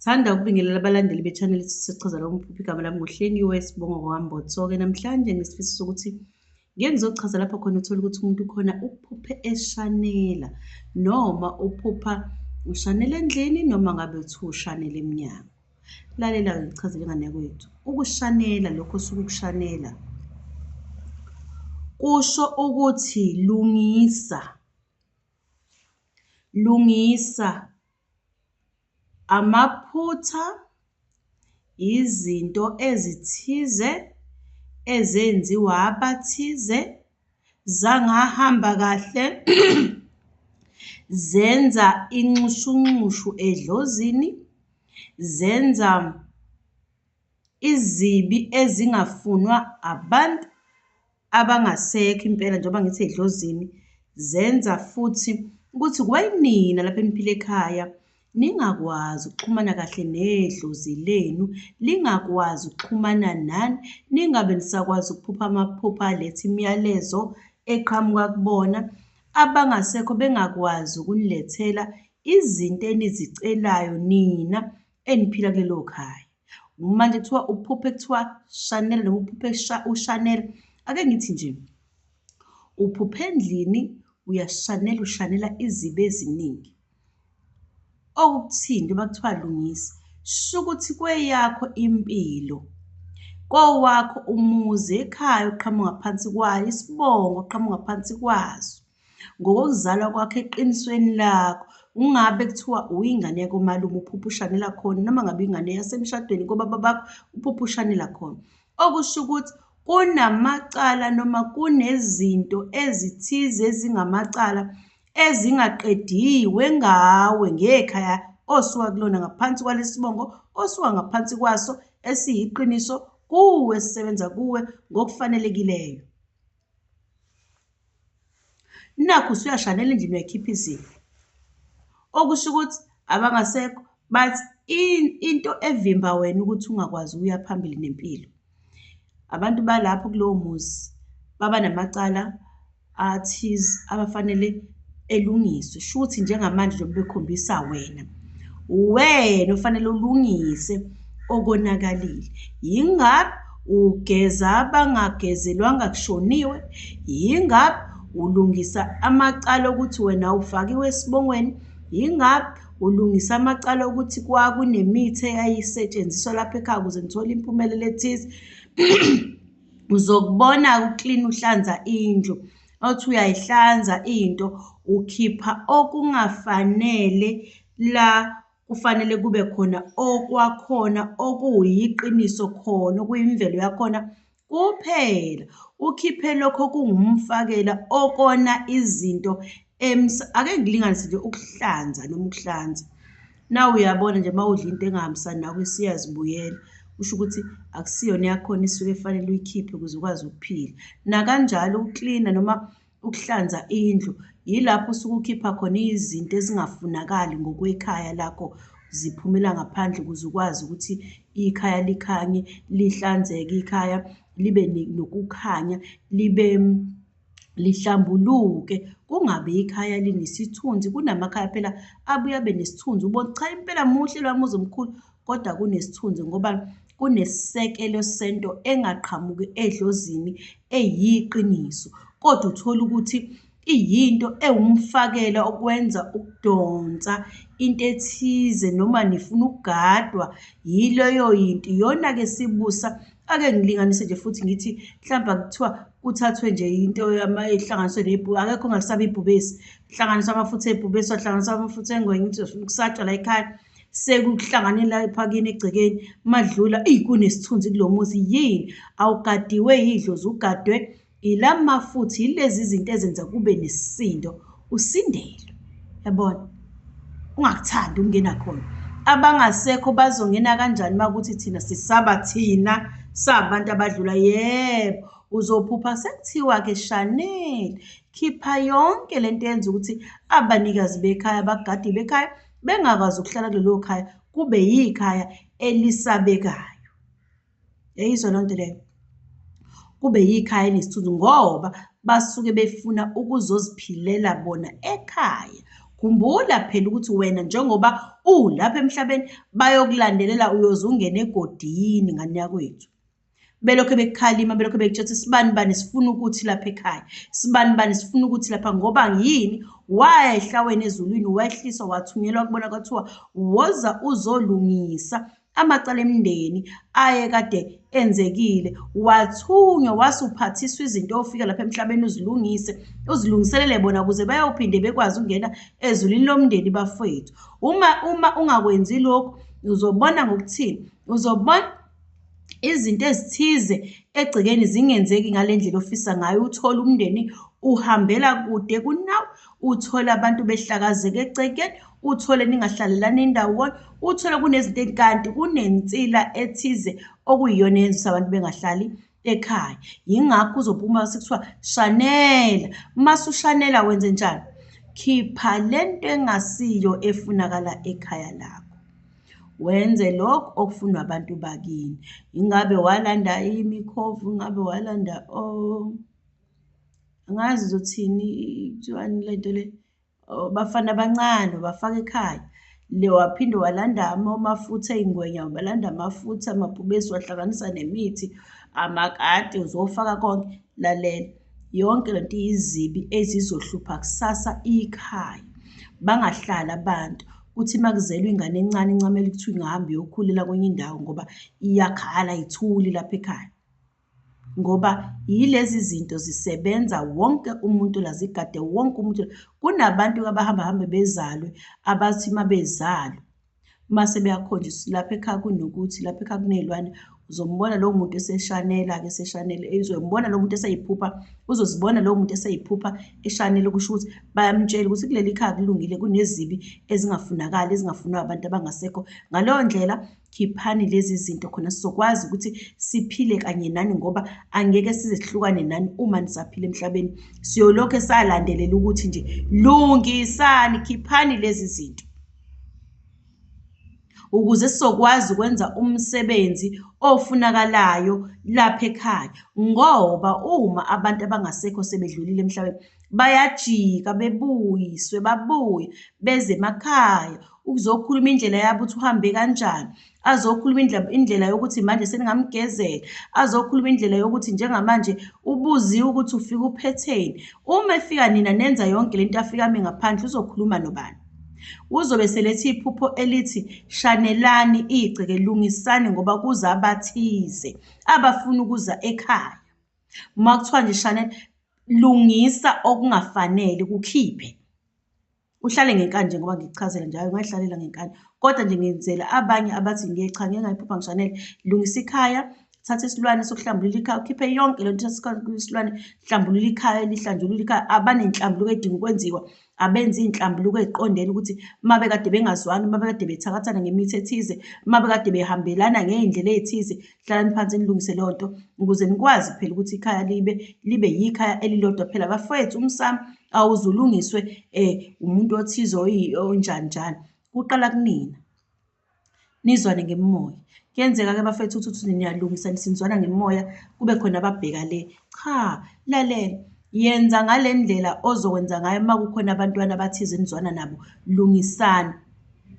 Thanda ukubingelela abalandeli be-channel sichaza la umphuphi igama lami nguhlengiwe sibongo kwambotso-ke namhlanje ngisifiso sokuthi ngeke ngizochaza lapha khona uthole ukuthi umuntu khona uphuphe eshanela noma uphupha ushanela endlini noma ngabe uthi ushanela emnyango lalela-ke ngichazele ingane yakwethu ukushanela lokho osuke ukushanela kusho ukuthi lungisa lungisa Amaphutha yizinto ezithize ezenziwa abathize zangahamba kahle zenza inxushunxushu edlozini, zenza izibi ezingafunwa abantu. abangasekho impela njengoba ngithi edlozini zenza futhi ukuthi kwayinina lapha emphile ekhaya ningakwazi ukuxhumana kahle nedlozi lenu lingakwazi ukuxhumana nani ningabe nisakwazi ukuphupha amaphupha aletha imiyalezo eqhamuka kubona abangasekho bengakwazi ukunilethela izinto enizicelayo nina eniphila kulelo khaya manje kuthiwa uphuphe kuthiwa Chanel noma uphuphe uShanel ake ngithi nje uphuphe endlini uyashanela ushanela izibe eziningi okuthini njengoba kuthiwa lungisa shukuthi kweyakho impilo kowakho umuzi ekhaya oqhamuka phansi kwayo isibongo oqhamuka phansi kwaso ngokokuzalwa kwakho eqinisweni lakho ungabe kuthiwa uyingane yakomalume uphupha ushanela khona noma ngabe ingane yasemshadweni kobaba bakho uphupha ushanela khona okusho ukuthi kunamacala noma kunezinto ezithize ezingamacala ezingaqediwe ngawe ngekhaya osuka kulona ngaphansi kwalesibongo osuka ngaphansi kwaso esiyiqiniso kuwe sisebenza kuwe ngokufanelekileyo Nakhu usuyashanela endlini uyayikhipha izibi. Okusho ukuthi abangasekho but into evimba wena ukuthi ungakwazi ukuya phambili nempilo. Abantu balapho kulowo muzi baba namacala athize abafanele. elungiswe shuthi njengamanje njengoba bekhombisa wena uwena ofanele ulungise okonakalile yingabe ugeza abangagezelwanga kushoniwe yingabe ulungisa amacala okuthi wena ufakiwe esibongweni yingabe ulungisa amacala okuthi kwakunemithi eyayisetshenziswa lapha ekhaya ukuze ngithole impumelelo ethize uzokubona uklini uhlanza indlu othi uyayihlanza into ukhipha okungafanele la kufanele kube khona okwakhona okuyiqiniso khona okuyimvelo yakhona kuphela ukhiphe lokho kungumfakela okona izinto ake ngilinganise nje ukuhlanza noma ukuhlanza na uyabona nje uma udla into engahambisani nawe isiyazibuyela kusho ukuthi akusiyona eyakhona isuke efanele uyikhiphe ukuze ukwazi ukuphila nakanjalo ukuklina noma ukuhlanza indlu yilapho usuke ukhipha khona izinto ezingafunakali ngokwekhaya lakho ziphumela ngaphandle ukuze ukwazi ukuthi ikhaya likhanye lihlanzeke ikhaya libe nokukhanya libe lihlambuluke kungabe ikhaya linesithunzi kunamakhaya phela abuye abe nesithunzi ubona cha impela muhle lwa muzi omkhulu kodwa kunesithunzi ngoba kunesisekelo sento engaqhamuki edlozini eyiqiniso kodwa uthola ukuthi iyinto ewumfakela okwenza ukudonsa into ethize noma nifuna ukugadwa yileyo yinto iyona-ke sibusa ake ngilinganise nje futhi ngithi mhlawumbe kuthiwa kuthathwe nje into ehlanganiswe nebhu akekho ongasaba ibhubesi kuhlanganiswa amafutha ebhubesi wahlanganiswa amafutha engwenya ukuthi kusatshwa la ekhaya sekuhlangane la ephakini egcekeni madlula eyi kunesithunzi kulo muzi yini awugadiwe yidlozi ugadwe Ila mafutha yilezi zinto ezenza kube nesisindo usindelwe. Yabona? Ungakuthandi ukungena khona. Abangasekho bazongena kanjani makuthi thina sisaba thina sabantu abadlula yebo uzophupha sekuthiwa ke Chanel khipha yonke lento yenza ukuthi abanikazi bekhaya abagadi bekhaya bengakwazi ukuhlala kulelo khaya kube yikhaya elisabekayo. Yayizwa loo nto leyo. Kube yikhaya enesithunzi ngoba basuke befuna ukuzoziphilela bona ekhaya. Khumbula phela ukuthi wena njengoba ulapha emhlabeni bayokulandelela uyoze ungene egodini ngane yakwethu. Belokhu bekukhalima belokhu bekutshela sibani bani sifuna ukuthi lapha ekhaya. Sibani bani sifuna ukuthi lapha ngoba yini wayehla wena ezulwini wehliswa wathunyelwa kubona kwathiwa woza uzolungisa amacala emndeni ayekade enzekile wathunywa wasuphathiswa izinto ofika lapha emhlabeni uzilungise uzilungiselele bona ukuze bayophinde bekwazi ukungena ezulwini lomndeni bafowethu uma uma ungakwenzi lokhu uzobona ngokuthini uzobona izinto ezithize egcekeni zingenzeki ngale ndlela ofisa ngayo uthole umndeni uhambela kude kunawe uthole abantu behlakazeke ecekeni uthole ningahlalelani ndawonye uthole kunezinto kanti kunensila ethize okuyiyona eyenzisa abantu bengahlali ekhaya yingakho uzophuma sekuthiwa shanela uma sushanela wenze njani khipha le nto engasiyo efunakala ekhaya lakho wenze lokho okufunwa abantu bakini ingabe walanda imikhovu ingabe walanda o oh. angazi uzothini kuthiwani le nto le bafana abancane bafaka ekhaya le waphinde walanda amafutha ey'ngwenya wabalanda amafutha amabhubesi wahlanganisa nemithi amakati uzofaka konke lalela yonke le nto iyizibi ezizohlupha kusasa ikhaya bangahlali abantu kuthi uma kuzelwe ingane encane incamele ukuthi ingahambi yokhulela kwenye indawo ngoba iyakhala ithuli lapha ekhaya ngoba yilezi zinto zisebenza wonke umuntu la zigade wonke umuntu kunabantu abahamba hambe bezalwe abathi uma bezalwe uma sebeyakhonjiswa lapha ekhaya kunokuthi lapha ekhaya kuney'lwane uzombona lowo muntu eseshanela-ke eseshanele uzombona lowo muntu eseyiphupha uzozibona lowo muntu eseyiphupha eshanele kusho ukuthi bayamtshela ukuthi kuleli khaya kulungile kunezibi ezingafunakali ezingafunwa abantu abangasekho ngaleyo ndlela Khiphani lezi zinto khona sizokwazi ukuthi siphile kanye nani ngoba angeke size sihlukane nani uma nisaphila emhlabeni. Siyolokhu salandelela ukuthi nje lungisani, khiphani lezi zinto. Ukuze sizokwazi ukwenza umsebenzi ofunakalayo lapha ekhaya ngoba uma abantu abangasekho sebedlulile emhlabeni bayajika bebuyiswe babuye beze emakhaya ukuzokhuluma indlela yabo ukuthi uhambe kanjani azokhuluma indlela indlela yokuthi manje seningamgezela azokhuluma indlela yokuthi njengamanje ubuziwe ukuthi ufika uphetheni uma efika nina nenza yonke lento afika ame ngaphandle uzokhuluma nobani uzobe selethi iphupho elithi shanelani igceke lungisani ngoba kuza abathize abafuna ukuza ekhaya uma kuthiwa nje shanel lungisa okungafanele kukhiphe uhlale ngenkani njengoba ngikuchazela njalo ungayihlalela ngenkani kodwa nje ngenzela abanye abathi ngiye cha ngeke ngayiphupha ngishanele lungisa ikhaya thatha isilwane sokuhlambulula ikhaya ukhiphe yonke le nto isilwane hlambulula ikhaya lihlanjulula ikhaya abanenhlambuluko edinga ukwenziwa abenza iy'nhlambuluko ey'qondene ukuthi uma bekade bengazwani uma bekade bethakathana ngemithi ethize uma bekade behambelana ngey'ndlela ey'thize hlalani phansi nilungise leyo nto ukuze nikwazi phela ukuthi ikhaya libe libe yikhaya elilodwa phela bafowethu umsamo awuze ulungiswe um umuntu othize onjani njani kuqala kunina nizwane ngemimoya kuyenzeka-ke bafethu ukuthi uthi niyalungisa nisinzwana ngemimoya kube khona ababheka le cha lalela yenza ngale ndlela ozokwenza ngayo uma kukhona abantwana abathize nizwana nabo lungisani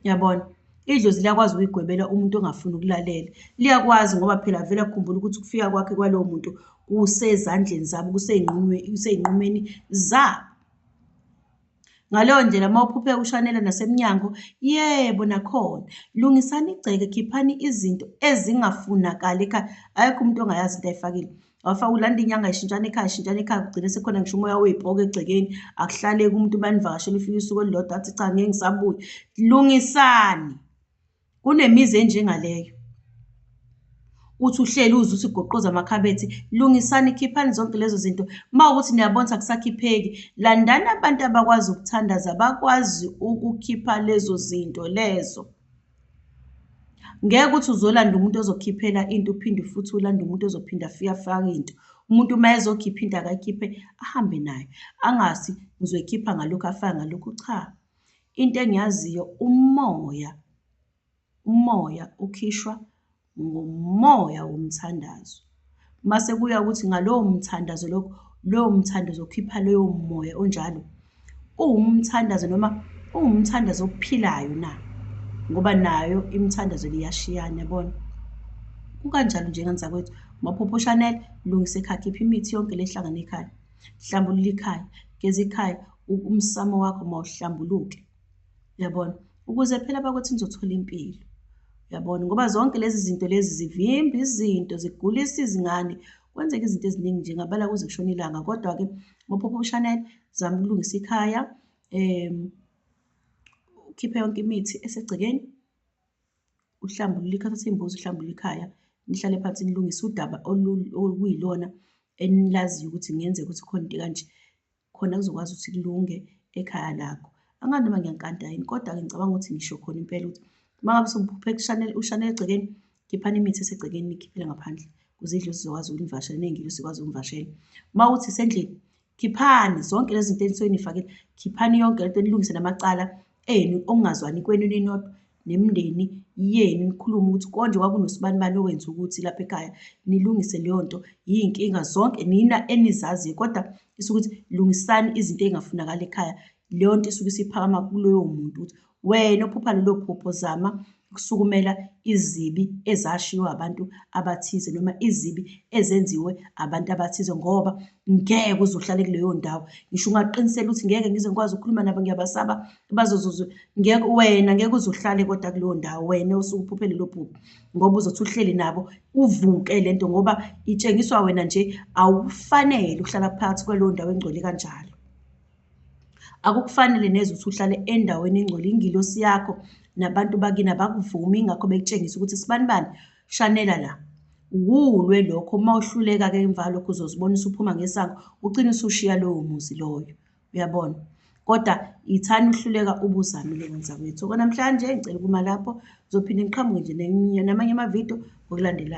yabona Idlozi liyakwazi ukuyigwebela umuntu ongafuni ukulalela. Liyakwazi ngoba phela vele akukhumbula ukuthi ukufika kwakhe kwalowo muntu kusezandleni zabo, kusey'nqumeni zabo. Ngaleyo ndlela uma uphuphe ushanela nasemnyango, yebo nakhona. Lungisani igceke, khiphani izinto ezingafunakali ekhaya. Akekho umuntu ongayazi into ayifakile. wafa ulanda inyanga ishintshana ikhaya ishintshana ikhaya kugcine sekhona ngisho umoya wey'poke egcekeni akuhlaleki umuntu banivakashela ufike usuku olulodwa athi cha ngeke ngisabuye lungisani kunemizi enjengaleyo uthi uhleli uze uthi goqoza amakhabethi lungisani khiphani zonke lezo zinto uma ukuthi niyabona ukuthi akusakhipheki landani abantu abakwazi ukuthandaza bakwazi ukukhipha lezo zinto lezo Ngeke ukuthi uzolanda umuntu ozokhiphela into uphinde futhi ulande umuntu ozophinde afike afake into. Umuntu uma ezokhipha into akayikhiphe ahambe nayo, angasi ngizoyikhipha ngalokhu afake ngalokhu, cha. Into engiyaziyo umoya, umoya ukhishwa. ngomoya womthandazo. Uma sekuya ukuthi ngalowo mthandazo lokho, lowo mthando uzokhipha loyo moya onjalo. Uwumthandazo noma uwumthandazo ophilayo na? Ngoba nayo imithandazo liyashiyana, yabona? Kukanjalo nje ngani zakwethu, maphupho Chanel, lungisa ekhaya, khipha imithi yonke lehlangana ekhaya. Hlambulula ikhaya, geza ikhaya, umsamo wakho mawuhlambuluke. Uyabona? Ukuze phela bakuthi nizothola impilo. Uyabona? Ngoba zonke lezi zinto lezi zivimba izinto, zigulisa izingane, kwenzeka izinto eziningi nje ngabala kuze kushona ilanga. Kodwa-ke ngophupha uShanel, zama ukulungisa ikhaya, um ukhiphe yonke imithi esegcekeni, uhlambulule ikhaya, uthathe imbuzi uhlambulule ikhaya, nihlale phansi nilungise udaba oluyilona enilaziyo ukuthi kungenzeka ukuthi khona into ekanje. khona kuzokwazi ukuthi kulunge ekhaya lakho angazi noma ngiyankanta yini kodwa-ke ngicabanga ukuthi ngisho khona impela ukuthi uma ngabe sewuphuphe kushanele ushanele egcekeni khiphani imithi esegcekeni nikhiphele ngaphandle kuze idlozi zizokwazi ukunivashela ney'ngilo zikwazi ukunivashela uma ukuthi isendlini khiphani zonke lezi zinto enisuke nifakile khiphani yonke le nto nilungise namacala enu okungazwani kwenu ninodwa nemindeni yenu nikhulume ukuthi konje kwakunosibanibani owenza ukuthi lapha ekhaya nilungise leyo nto yiy'nkinga zonke nina enizaziyo kodwa isuke ukuthi lungisani izinto ey'ngafunakali ekhaya leyo nto isuke isiphakama kuloyo muntu ukuthi wena ophupha lelo phupho zama ukusukumela izibi ezashiwo abantu abathize noma izibi ezenziwe abantu abathize ngoba ngeke uzohlale kuleyo ndawo ngisho ungaqinisela ukuthi ngeke ngize ngikwazi ukukhuluma nabo ngiyabasaba bazozuzu ngeke wena ngeke uzuhlale kodwa kuleyo ndawo wena osukuphuphe lelo phupho ngoba uzothi uhleli nabo uvuke le nto ngoba itshengiswa wena nje awufanele uhlala phakathi kwaleyo ndawo engcwele kanjalo akukufanele neze ukuthi uhlale endaweni engcwele ingilosi yakho nabantu bakini abakuvumi ingakho bekutshengisa ukuthi sibani bani shanela la wulwe lokho uma uhluleka-ke emva lokho uzozibona usuphuma ngesango ugcine usushiya lowo muzi loyo uyabona kodwa yithani uhluleka ubuzamile wenza kwethu okonamhlanje ngicela ukuma lapho ngizophinde ngiqhamuke nje namanye amavidiyo ngokulandelayo